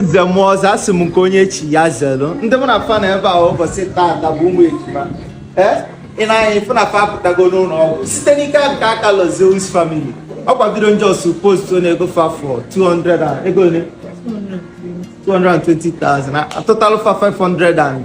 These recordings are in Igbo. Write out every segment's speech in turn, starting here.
nze na ọzọ asị m nke onye chi ya zelu ndị mụ na fa nọ ebe a ụbọchị taata bụ ụmụ ejima ee i nee anya ị fụ na fa apụtago n'ụlọ ọgwụ site n'ike nke aka Lord Zeus family ọkwa bido m just post na ego fa fọ 200 and ego ole 220,000 atụtalụ fa 500 and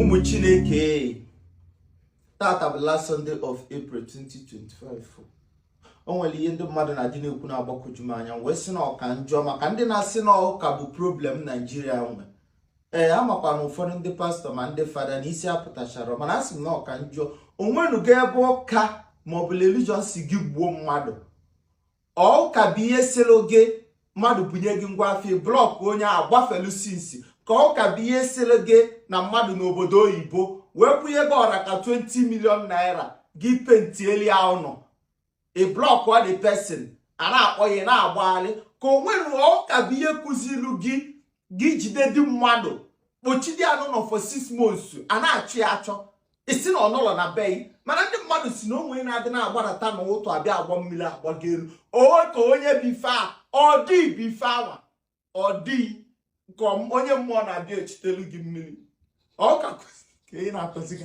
ụmụ chineke taata bụ last Sunday of April 2025 o nwere ihe ndị mmadụ na-adị na-ekwu na-agbakọju m anya m wee sị na ọ ka njọ maka ndị na-asị na ụka bụ problem Naijiria nwe ee amakwa m na ụfọdụ ndị pastọ ma ndị fada na isi apụtacharọ mana asị m na ọ ka njọ o nwenugo ebe ụka maọbụ religion sị gị gbuo mmadụ ọ ụka bụ ihe sịrị gị mmadụ bunye gị ngwa afịa ị blọkụ onye a gbafelu sinsi ka ọ ụka bụ ihe sịrị gị na mmadụ n'obodo oyibo wee kwụnye gị ọra ka 20 million naira gị pentieli ya ụnọ ị blọkụ the person a na-akpọ gị ị na-agbagharị ka o nwere ọ ụka bụ ihe kụzilu gị gị jide di mmadụ kpochide ya n'ụnọ for six months a na-achọ ya achọ ị sị na ọ nọlọ na be gị mana ndị mmadụ sị na o nwere na-adị na-agbarata n'ụtụtụ abịa agba mmiri agbago elu owe ka onye bife a ọ dị bife awa ọ dị ka onye mmụọ na-abịa echitelu gị mmiri ọ ụka na-akụzi gị